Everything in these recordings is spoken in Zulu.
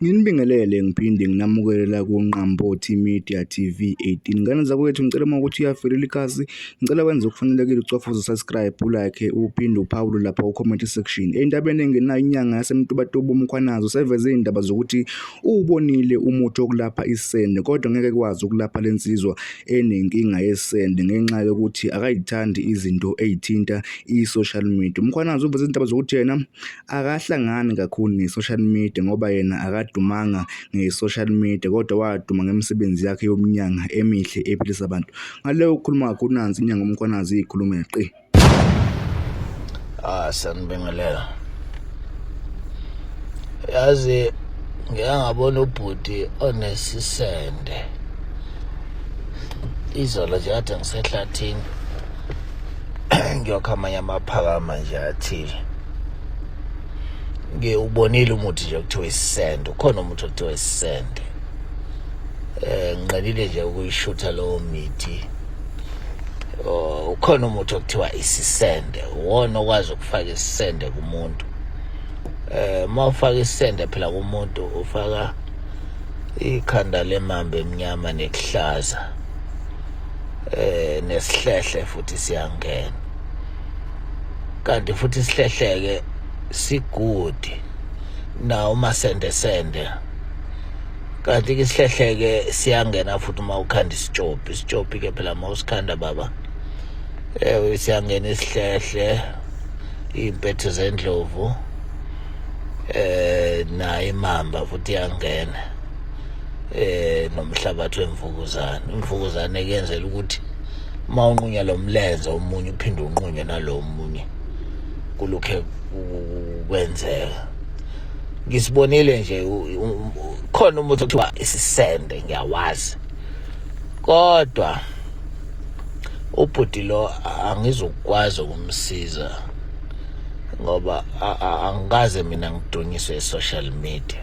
Nginibingelele ngiphinde nginamukelela kuNqambothi Media TV 18. Ngane zakwethu ngicela uma ukuthi uyavelela ikhasi, ngicela wenze okufanelekile ucofa uze-subscribe, ulike, uphinde uphawule lapha ku-comment section. Endabeni engenayo inyanga yaseMtubatuba uMkhwanazi useveze iy'ndaba zokuthi uwubonile umuthi wokulapha isende kodwa ngeke kwazi ukulapha le nsizwa enenkinga yesende ngenxa yokuthi akayithandi izinto ey'thinta i-social media. UMkhwanazi uveze izindaba zokuthi yena akahlangani kakhulu ne-social media ngoba yena akadumanga nge-social media kodwa waduma ngemisebenzi yakhe yomnyanga emihle ephilisa abantu ngaleyo ukhuluma kakhulu nansi inyanga umkhwanazi iyikhulume qi ah sanibingelela yazi ngeke ngabona ubhuti onesisende izolo nje kade ngisehlathini ngiyokha amanye amaphakama nje athile ngiwubonile umuthi nje kuthiwa isisende ukhona umuthi okuthiwa isisende eh ngiqalile nje ukuyishutha lowo mithi oh, ukhona umuthi okuthiwa isisende uwona okwazi ukufaka isisende kumuntu eh uma ufaka isisende phela kumuntu ufaka ikhanda lemambe emnyama nekuhlaza eh nesihlehle futhi siyangena kanti futhi isihlehleke sigudi na uma sende sende kanti ke isihlehleke siyangena futhi uma ukhanda isitshopi isitshopi ke phela uma usikhanda baba ewe siyangena isihlehle iy'mpetho zendlovu eh naye imamba futhi iyangena eh nomhlabathi wemvukuzane imvukuzane kuyenzela ukuthi uma unqunya lo mlenze omunye uphinde unqunywe nalo munye kulokhe kwenzeka ngisibonile nje khona umuntu okuthiwa isisende ngiyawazi kodwa ubhuti lo angizokwazi ukumsiza ngoba angikaze mina ngidunyiswe e-social media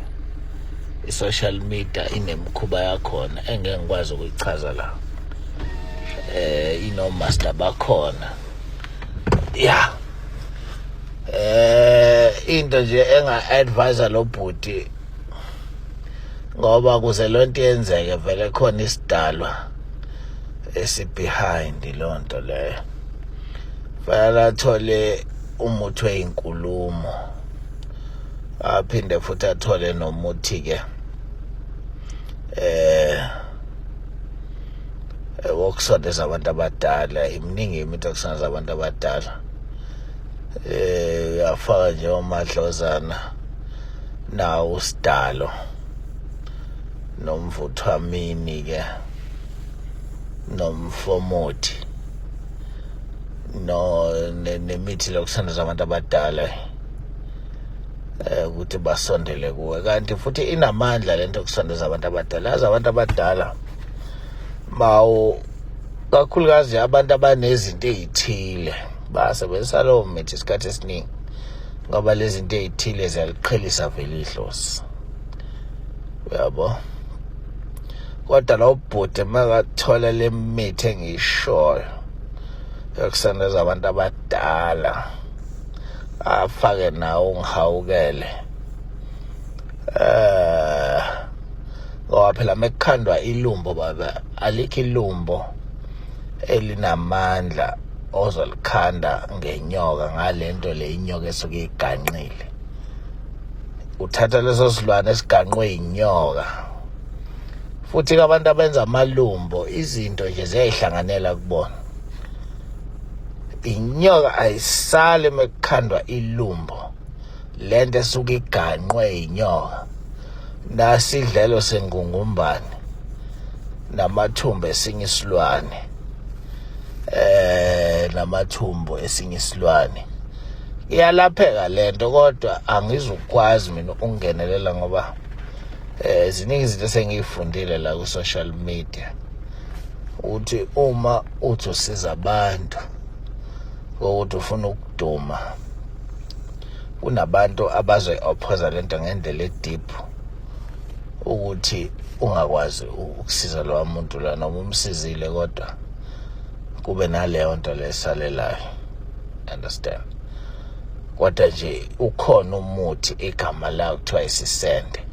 i-social media inemikhuba yakhona engeke ngikwazi ukuyichaza la eh inomaster bakhona ya eh into nje enga-advise lo bhuti ngoba kuze lo nto yenzeke vele khona isidalwa esibehind lo nto leyo fanele athole umuthi weyinkulumo aphinde futhi athole nomuthi ke eh wokusondeza abantu abadala iminingi imithi yokusondeza abantu abadala eh uyafaka nje omadlozana nawo usidalo nomvuthwamini ke nomfomothi no nemithi lokusondeza abantu abadala eh ukuthi basondele kuwe kanti futhi inamandla lento yokusondeza abantu abadala yazi abantu abadala mawu kakhulukazi abantu abanezinto ezithile basebenzisa lowo mithi isikhathi esiningi ngoba lezi zinto ezithile ziyaliqhelisa vele idlozi uyabo kodwa lo bhuti makathola le mithi engishoyo yokusondeza abantu abadala afake nawo ngihawukele eh ngoba phela mekukhandwa ilumbo baba alikho ilumbo elinamandla ozolikhanda ngenyoka ngalento le inyoka esuke iganqile uthatha leso silwane esiganqwe inyoka futhi abantu abenza amalumbo izinto nje ziyayihlanganela kubona inyoka ayisali mekukhandwa ilumbo lento esuke iganqwe inyoka nasidlelo sengungumbane namathumbu esinye isilwane eh namathumbu esinye isilwane iyalapheka lento kodwa angizukwazi mina ukungenelela ngoba eh ziningi izinto esengiyifundile la ku social media ukuthi uma uthi usiza abantu ukuthi ufuna ukuduma kunabantu abazoyi ophosa lento ngendlela edeep ukuthi ungakwazi ukusiza lowa muntu la noma umsizile kodwa kube naleyo nto lesalelayo understand kodwa nje ukhona umuthi igama lawo kuthiwa isisende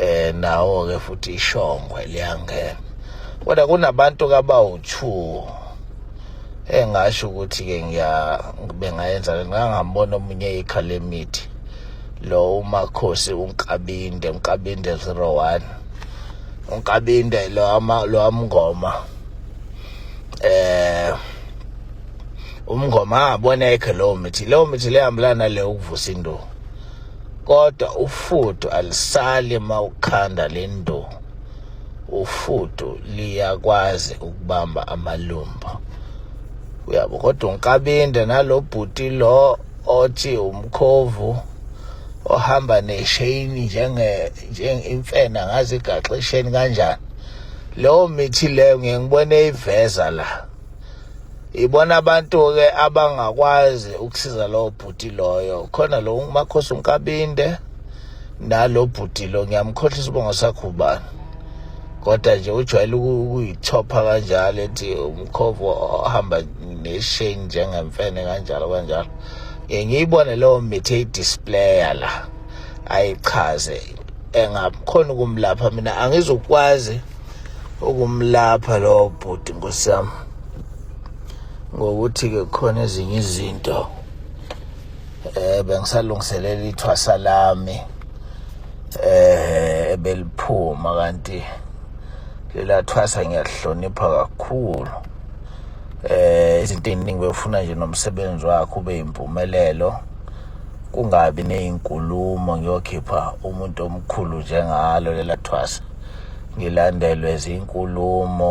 eh nawo ke futhi ishongwe liyangena kodwa kunabantu kabawu-2 engasho ukuthi ke ngiya bengayenza ngangambona omunye ikhala emithi lo umakhosi unkabinde unkabinde 01 unkabinde lo ama lo amngoma eh umngoma abona ekhe lo mithi lo mithi lehambelana le ukuvusa induku kodwa ufudu alisali uma ukhanda le ndu ufudu liyakwazi ukubamba amalumba uyabo kodwa unkabinde nalo bhuti lo othi umkhovu ohamba nesheyini njenge imfena ngazi igaxisheni kanjani leyo mithi leyo ngiyengibone iveza la ibona abantu-ke abangakwazi ukusiza lowo bhuti loyo khona lo umakhosi unkabinde nalo bhuti lo ngiyamkhohlisa ubongo sakho ubani kodwa nje ujwayele ukuyithopha kanjalo ethi umkhovu ohamba nesheni njengemfene kanjalo kanjalo ngiye ngiyibone leyo mithi eyidisplaya la ayichaze engakhona ukumlapha mina angizukwazi ukumlapha lowo bhuti nkosiyami ngokuthi-ke khona ezinye izinto eh bengisalungiselela ithwasa lami eh ebeliphuma kanti lelathwasa ngiyahlonipha kakhulu eh izinto eziningi befuna nje nomsebenzi wakho ube impumelelo kungabi nezinkulumo ngiyokhipha umuntu omkhulu njengalo lelathwasa ngilandelwe zinkulumo